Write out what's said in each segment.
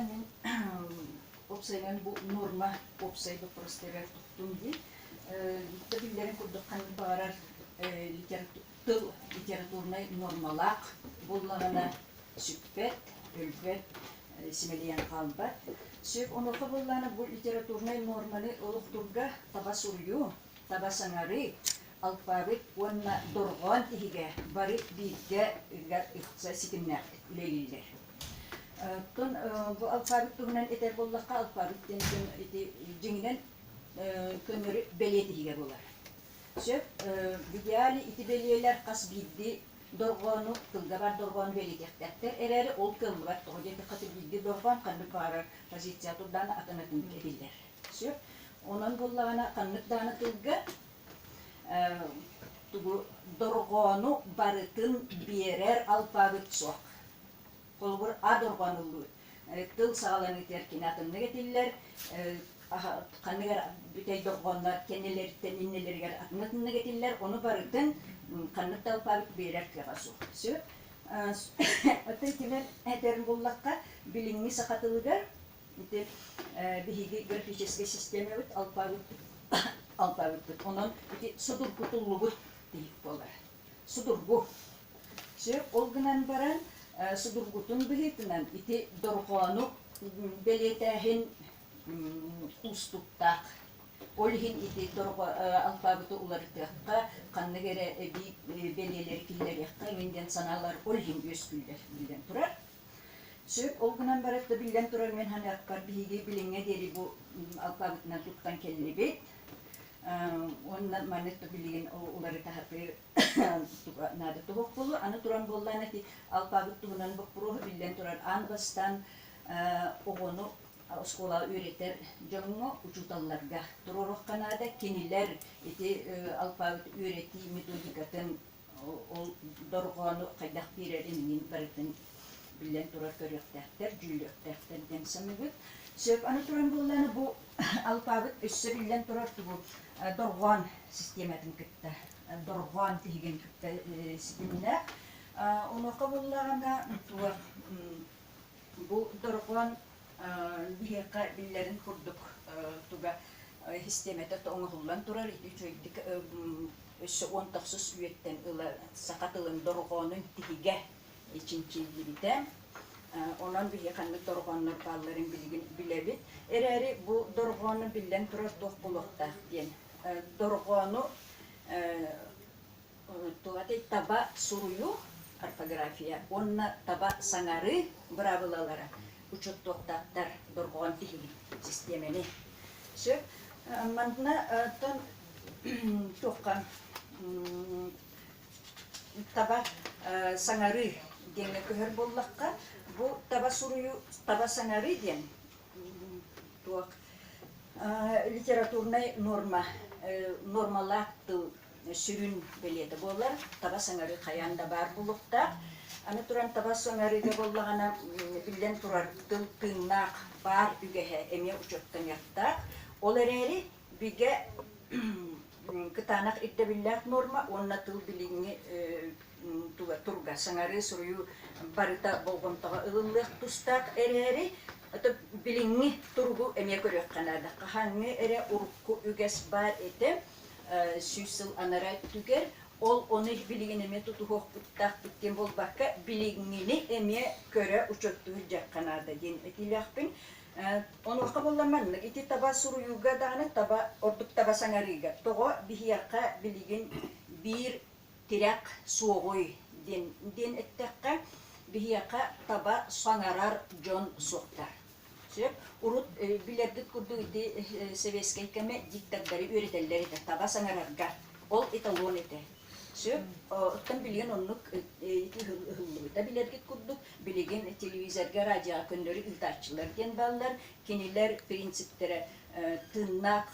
Мин уопсайынан бу норма уопсай боппуруостарыгар туттум дии. Биирдэ биллэрин курдук ханнык баҕарар тыл литературнай нормалаах буоллаҕына сүппэт, өлбөт, симэлийэн хаалбат. Сөп онуоха буоллаҕына бу литературнай норманы олохтуурга таба суруйуу, таба саҥарыы, алпаабыт уонна дорҕоон иһигэ бары бииргэ ыкса ситимнээхтик үлэлииллэр. Оттон бу алпаабыт туһунан этэр буоллахха, алпаабыт диэн дьон ити дьиҥинэн көннөрү бэлиэ иһигэ буолар. Сөп, в идеале ити бэлиэлэр хас биирдии дорҕоону, тылга баар дорҕоону бэлиэтиэхтээхтэр эрээри, ол кыаллыбат. Тоҕо диэтэххэ, биирдии дорҕоон ханнык баҕарар позиция турдаҕына атын атын этиллэр. Сөп. Онон буоллаҕына, ханнык даҕаны тылга Тугу дорҕоону барытын биэрэр алпаабыт суох. Холобур, а дорҕону тыл саҕаланыытыгар кини атыннык этиллэр, ханныгар бүтэй дорҕооннор кэннилэриттэн иннилэригэр атын-атыннык этиллэр, ону барытын ханнык да алпаабыт биэрэр кыаҕа суох. Сөп. Оттон кимэн этэрин буллахха, билиҥҥи саха тылыгар Ити биһиги графическай систиэмэбит алпаабыппыт. Онон ити судургутуллубут тиһик буолар. Судургу. Сөп, ол гынан баран судургутун быһыытынан ити дорҕоону бэлиэтээһин уустуктаах. Ол иһин ити дорҕо алпаабыты уларытыахха, ханнык эрэ эбии бэлиэлэри киллэриэххэ эбин диэн санаалар ол иһин үөскүүллэр, биллэн турар. Сөп, ол гынан барыта да биллэн турар мин саныахпар биһиги билиҥҥэ диэри бу алпаабытынан туттан кэллибит. Онно маннык да билигин уларытаһытыы наада туһук болу аны туран боллаан эти алпаабыт туһунан боппуруоһу биллэн турар аан бастан оҕону оскуолаҕа үөрэтэр дьоҥҥо учууталларга туруорухха наада кинилэр ити алпаабыт үөрэтии методикатын ол дорҕоону хайдах биэрэрин мин барытын биллэн турар көрүөхтээхтэр, дьүүллүөхтээхтэр диэн саныыбыт. Сөп, аны туран буоллааны бу алпаабыт өссө биллэн турар тугу дорҕоон систиэматын кытта дорҕоон тиһигин кытта ситимнээх. Онуоха буоллаҕына туох Бу дорҕоон биһиэхэ биллэрин курдук туга систиэмэтэ оҥоһуллан турар ити үчүгэйдик өссө уон тахсыс үйэттэн ыла саха тылын дорҕоонун тиһигэ чинчиллибитэ. Онон биһиги ханнык дорҕооннор баалларын билигин билэбит. Эрээри бу дорҕоону биллэн турар туох буолуохтаах диэн. Дорҕоону Туһатый таба суруйуох орфография уонна таба саҥарыы быраабылалара учуоттуохтаахтар дорҕоон тиһими систиэмэни. Сөп. Маннаттан туохха таба саҥарыы диэҥҥэ көһөр буоллахха, бу таба суруйуу, таба саҥарыы диэн туох литературнай норма, нормалаах тыл сүрүн бэлиэтэ буолар. Табас ыҥырыы хайаан да баар булуохтаах. Аны туран, табас ыҥырыыга буоллаҕына, биллэн турар, тыыннаах баар үгэһэ эмиэ учуоттаныахтаах. Ол эрээри бигэ кытаанах ирдэбиллээх нуорма уонна тыл билиҥҥи турга сыҥарыы, суруйуу барыта болҕомтоҕо ылыллыах тустаах эрээри, билиҥҥи туругу эмиэ көрүөххэ наада. Хаһааҥҥы эрэ урукку үгэс баар этэ. сүүс сыл анараа өттүгэр ол ону билигин эмиэ тутуһуохпуттаах диэн буолбакка билиҥҥини эмиэ көрө учуоттуур дьахха наада диэн этиилээхпин онуоха буоллар маннык ити таба суруйууга даҕаны таба ордук таба саҥарыыга тоҕо биһиэхэ билигин биир тирэх суоҕуй диэн диэн эттэххэ биһиэхэ таба саҥарар дьон суохтар Сөп, урут билэргит курдук ити сэбиэскэй кэмэ диктардары үөрэтэллэр этэ, таба саҥарарга. Ол эталон этэ. Сөп, оттон билигин оннук ити ыһыллыбыта билэргит курдук. Билигин телевизорга, радиоҕа көннөрү ыытааччылар диэн бааллар. Кинилэр принциптэрэ тыыннаах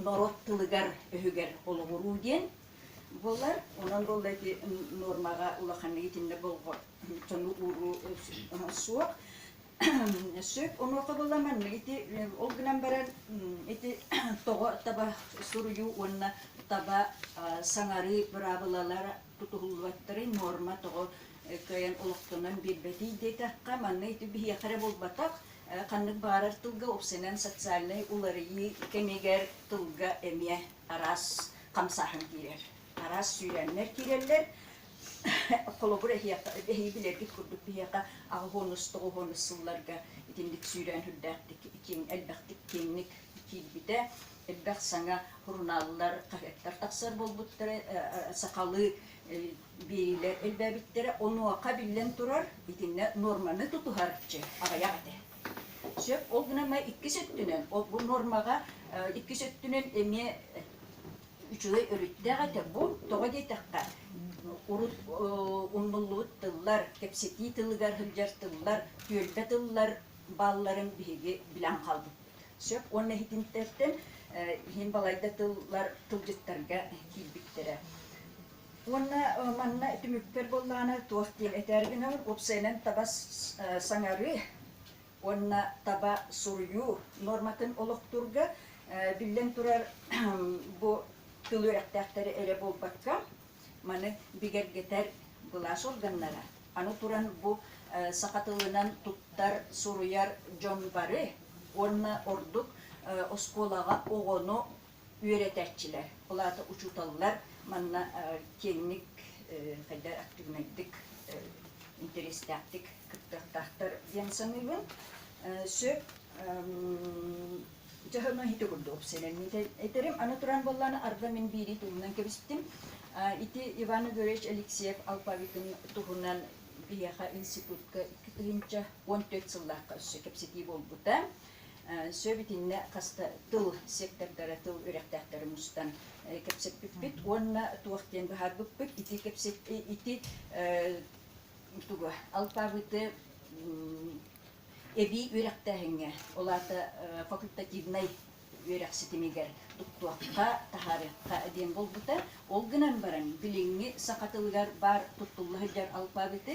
норуот тылыгар-өһүгэр олоҕуруу диэн буолар. Онон буолла ити нуормаҕа улаханнык итиннэ болҕочону ууруу суох. Сөп онуоха буолла маннык ити ол гынан баран ити тоҕо таба суруйуу уонна таба саҥарыы быраабылалара тутуһуллубаттарын норма тоҕо кыайан олохтонон биэрбэтий диэтэххэ манна ити биһиэхэ эрэ буолбатах Ханнык баҕарар тылга упсанан социальнай уларыйыы кэмигэр тылга эмиэ араас хамсааһын киирэр. Араас сүүрээннэр киирэллэр. Холобур, эһиги билэргит курдук биһиэхэ аҕыһыонус, тоҕуһуонус сылларга итинник сүүрээн үрдээхтик, киэҥ, элбэхтик киэҥник киирбитэ. Элбэх саҥа сурунааллар, хаһыаттар тахсар буолбуттара. Сахалыы Биэриилэр элбээбиттэрэ онуоха биллэн турар, итиннэ нуорманы тутуһарчы аҕыйах этэ. Сөп, ол гынан баран иккис өттүнэн, бу нуормаҕа иккис өттүнэн эмиэ үчүгэй өрүттээх этэ. Бу тоҕо диэтэххэ, урут умнуллубут тыллар, кэпсэтии тылыгар сылдьар тыллар, түөлбэ тыллар баалларын биһиги билэн хаалбыппыт. Сөп уонна иһитинтэртэн иһин балайда тыллар тылдьыттарга киирбиттэрэ. Уонна манна түмүктэр буоллаҕына туох диэн этээр гынан, уопсайынан таба саҥарыы уонна таба суруйуу нуорматын олохтуурга, биллэн турар, бу тыл үөрэхтээхтэри эрэ буолбакка, маны бигэргэтэр былаас органнара, аны туран бу саха тылынан туттар, суруйар дьон бары уонна ордук оскуолаҕа оҕону үөрэтэрчилэр, ол аата учууталлар манна киэҥник, хайдах актыыбынайдык, интэриэстээхтик кыттыахтаахтар диэн саныыбын. Сөп дьоһуну ити курдук сэлэмниитэ этэрим. Аны туран буоллан, арда мин биирии туһунан кэбистим. Ити Иван Игоревич Алексеев алпаабытын туһунан биһиэхэ институтка икки тыһыынча уон түөрт сыллаахха өссө кэпсэтии буолбута. Сөп итиннэ хаста тыл сектордара тыл үрэхтээхтэрин мустан кэпсэппиппит уонна туох диэн быһаарбыппыт ити кэпсэп ити тугу алпабыты эбии үрэхтээһиҥҥэ ол аата факультативнай үөрэх ситимигэр туттуохха таһаарыахха диэн буолбута ол гынан баран билиҥҥи саха тылыгар баар туттулла сылдьар алпабыты